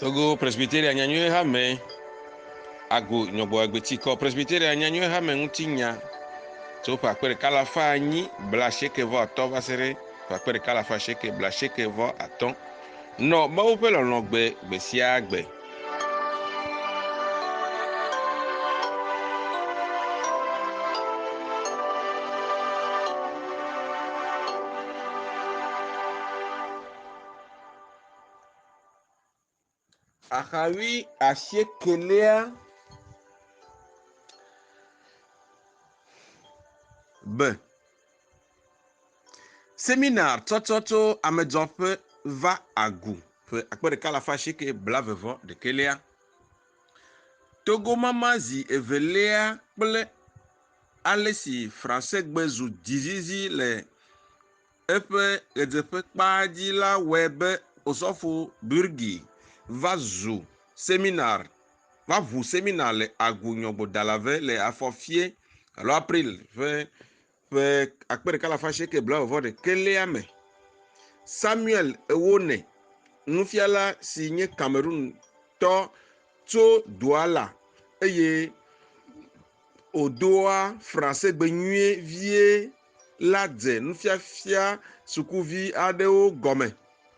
Togo Presbyteria Nyanyuie Hame ago nyɔgbɔ agbetikɔ Presbyteria Nyanyuie Hame ŋuti nya tso ƒe akpe ɖeka alafa anyi bla asieke vɔ atɔ va se ɖe ƒe akpe ɖeka alafa asieke bla asieke vɔ atɔ nɔ Mawu ƒe lɔlɔ̃ gbe gbe sia gbe. Axaɣi asiekɛlia, be. Seminar tsɔtsɔ tso amedzɔƒe va agu ƒe akpe ɖeka alafa asieke blaeve vɔ ɖekɛlia. Togomama zi evelia kple ale si Fransegbe zu dzizizi le eƒe ʋedzeƒekpa dzi la wɔe be Osɔfo Bürgi va zu seminar va ŋu seminar le Agu Nyɔgbodalave le afɔfie alo April ƒe ƒe akpe ɖeka alafa asieke blaeve ɖekɛlia me. Samuel Ewone, nufiala si nye Cameroon tɔ tso Douala eye wòdoa Fransegbe nyuie vie la dze nufiafia sukuvi aɖewo gɔme.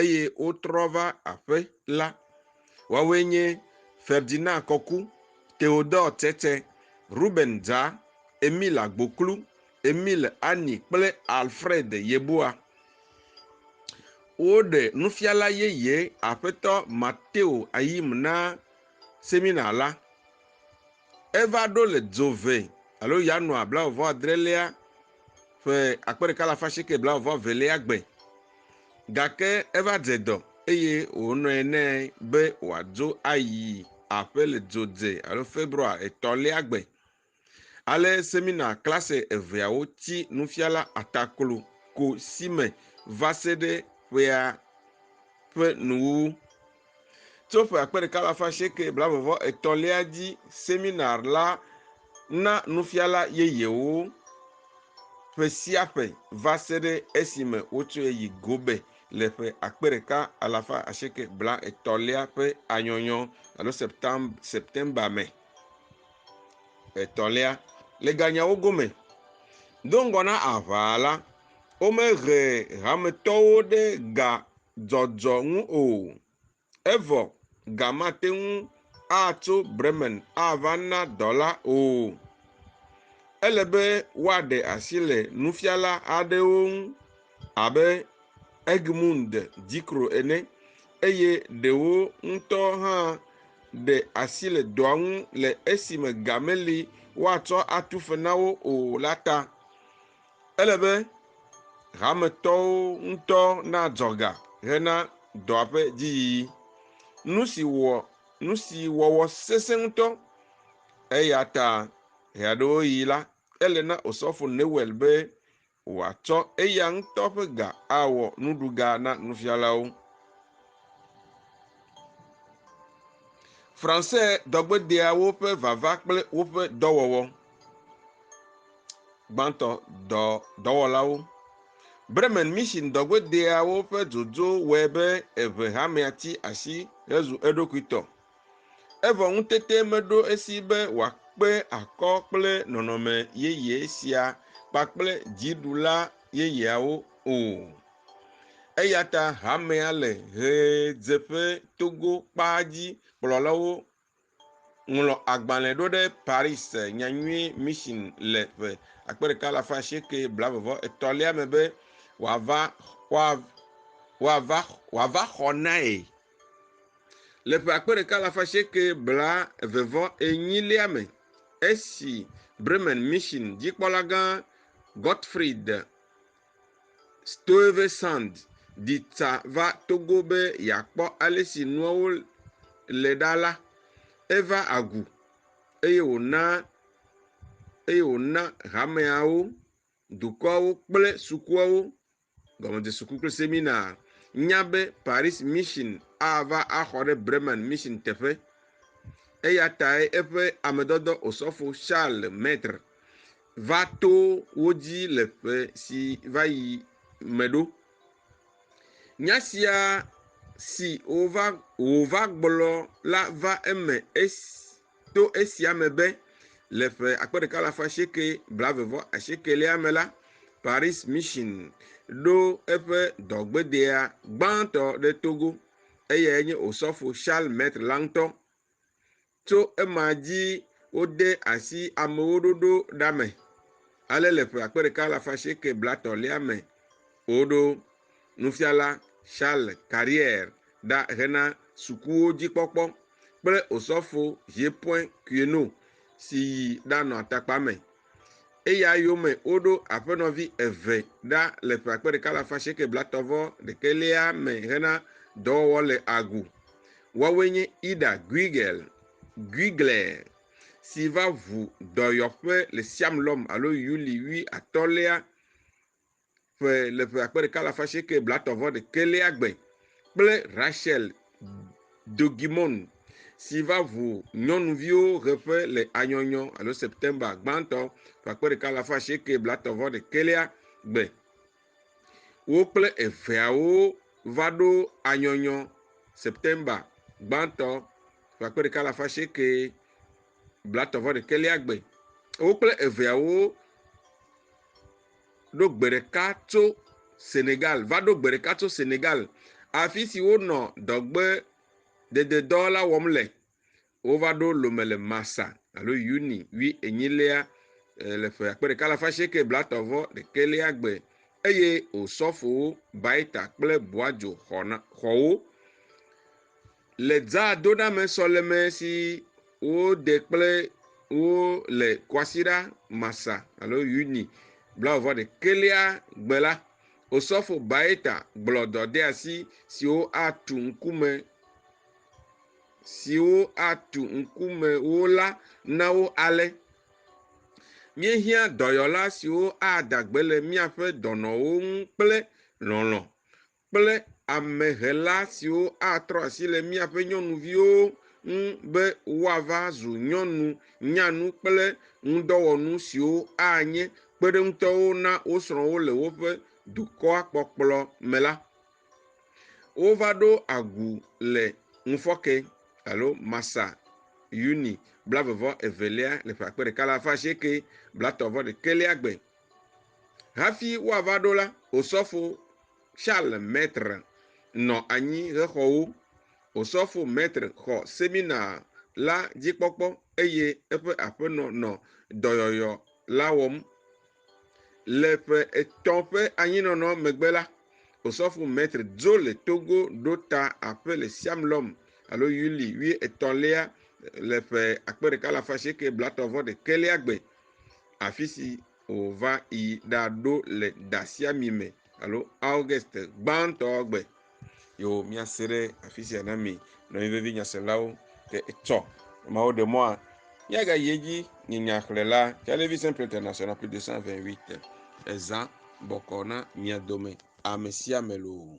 eye wotrɔ va aƒe la. Woawoe nye Ferdinand Kɔku, Theodore Tsetse, Ruben Dza, Emile Agboklu, Emile Anyi kple Alfred Yeboah. Woɖe nufiala yeye Aƒetɔ Mateo Ayim na semina la. Eva ɖo le dzo ve alo Yanuar blaeve-vɔ-adrelia ƒe akpe ɖeka alafa asieke blaeve-vɔ-evelia gbe. Gake eva dze dɔ eye wònɔe nɛ be wòadzo ayi aƒe le dzo dze alo Februar etɔ̃lia gbe. Ale semina klase eveawo tsi nufiala ataklo ko si me va se ɖe ƒea ƒe nuwuwu. Tso ƒe akpe ɖeka alafa asieke blaeve-vɔ etɔ̃lia dzi, seminar la na nufiala yeyewo ƒe sia ƒe va se ɖe esime wotsɔe yi Gobe le ƒe akpe ɖeka alafa asieke blaetɔ̃lia ƒe anyɔnyɔ alo Septemba me. Etɔ̃lia, le ganyawo gome, do ŋgɔ na aʋa la, womehe hametɔwo ɖe ga dzɔdzɔ ŋu o. Evɔ ga mate ŋu atso Bremen ava na dɔla o. Ele be woaɖe asi le nufiala aɖewo ŋu abe Egmund Dikro ene, eye ɖewo ŋutɔ hã ɖe asi le dɔa ŋu le esime ga meli woatsɔ atu fe na wo o la ta. Ele be hametɔwo ŋutɔ nadzɔ ga hena dɔa ƒe dziyiyi. Nu si wɔ nu si wɔwɔ sesẽ ŋutɔ. Eya ta ɣeaɖewoɣi la, ele na Osɔfo Newell be wòatsɔ eya ŋutɔ ƒe ga awɔ nuɖuga na nufialawo. Fransé dɔgbedeawo ƒe vava kple woƒe dɔwɔwɔ. gbãtɔ dɔ dɔwɔlawo. Bremen Mission dɔgbedeawo ƒe dzodzo wɔe be eve hamea ti asi hezu eɖokui tɔ. Evɔ ŋutete meɖo esi be wòakpe akɔ kple nɔnɔme yeye sia kpakple dziɖula yeyeawo o. Eya ta hamea le ʋedzeƒe togo kpaa dzi kplɔlawo Ŋlɔ agbalẽ ɖo ɖe Paris Nyanyui Mission le ƒe akpe ɖeka alafa asieke blaeve-vɔ etɔ̃lia me be wòava wòava wòava xɔ nae. Le ƒe akpe ɖeka alafa asieke blaeve-vɔ enyilia me, esi Bremen Mission dzikpɔlagã Gottfried Stuyvesant ɖi tsa va Togo be yeakpɔ ale si nuawo le ɖa la, eva agu eye wòna eye wòna hameawo, dukɔawo kple sukuawo, gɔmedesuku kple semina, nya be Paris Mission ava axɔ ɖe Bremen Mission teƒe. Eya tae eƒe amedɔdɔ Osɔfo Charles Maitre va to wo dzi le ƒe si va yi me ɖo. Nya sia si wova wòva gblɔ la va eme esi to esia me be le ƒe akpe ɖeka alafa asieke blaeve vɔ asiekelia me la, Paris Mission ɖo eƒe dɔgbedea gbãtɔ ɖe Togo, eyae nye Osɔfo Charles Maitre la ŋutɔ. Tso ema dzi wode asi amewo ɖoɖo ɖa me, ale le ƒe akpe ɖeka alafa asieke blatɔ̃lia me woɖo nufiala Charles Carrière ɖa hena sukuwo dzi kpɔkpɔ kple osɔfo Jepoin Queneau si yi ɖanɔ atakpa me Eya yome woɖo aƒenɔvi eve ɖa le ƒe akpe ɖeka le afa sieke blatɔ vɔ ɖeke lia me hena dɔwɔwɔ le agu. Woawoe nye Ida Guigel, Guigler, si va ʋu dɔyɔƒe le Siam lɔm alo Yuli wi atɔ̃lia. ƒe le ƒe akpe ɖeka alafa asieke blatɔ vɔ ɖekɛlia gbe kple Rachel Dogimon si va ʋu nyɔnuviwo ʋe ƒe le anyɔnyɔ alo September gbãtɔ ƒe akpe ɖeka alafa asieke blatɔ vɔ ɖekɛlia gbe. Wo kple eveawo va ɖo anyɔnyɔ September gbãtɔ ƒe akpe ɖeka alafa asieke blatɔ vɔ ɖekɛlia gbe. Wo kple eveawo. ɖo gbe ɖeka tso Senegal, va ɖo gbe ɖeka tso Senegal, afi si wonɔ dɔgbedededɔ la wɔm le. Wova ɖo Lome le Masa alo Yuni wui enyilia eh, le ƒe akpe ɖeka alafa asieke blatɔ vɔ ɖekɛlia gbe eye Osɔfowo Baita kple Boadzo xɔ wo. Le Dzadoɖame sɔleme si wode kple wo le Kwasiɖa Masa alo Yuni blaeve-vɔ-ɖekɛlia gbe la, Osɔfo Baeta gblɔ dɔdeasi siwo atu ŋkume siwo atu ŋkume wo la na wo ale, Míehiã dɔyɔla siwo ada gbe le míaƒe dɔnɔwo ŋu kple lɔlɔ̃, kple amehela siwo atrɔ asi le míaƒe nyɔnuviwo ŋu be woava zu nyɔnu nyanu kple ŋudɔwɔnu siwo anye kpeɖeŋutɔwo na wo srɔ̃wo le woƒe dukɔa kpɔkplɔ me la, wova ɖo agu le ŋufɔke alo Masa Yuni blaeve vɔ evelia le ƒe akpe ɖeka alafa asieke blatɔ̃ vɔ ɖekelia gbe. Hafi woava ɖo la, osɔfo Charles Maitre nɔ anyi hexɔwo. Osɔfo Maitre xɔ semina la dzikpɔkpɔ eye eƒe aƒenɔ nɔ dɔyɔyɔ la wɔm. Le ƒe etɔ̃ ƒe anyinɔnɔ megbe la, Osɔfo Maitre dzo le Togo ɖo ta aƒe le Siamlɔm alo Yuli wuietɔ̃lia le ƒe akpe ɖeka alafa asieke blaetɔ̃-vɔ-ɖekɛlia gbe, afisi wòva yi ɖaɖo le dasiami me alo August gbãtɔ gbe. Yo míase ɖe afi sia na mi nɔvi vevi nyaselawo te etsɔ mawo ɖe mɔa míagayi edzi nye nyaxlẽla Télévision pour l'international plus de 128 ezã bɔkɔ na mia dome ame sia ame loo.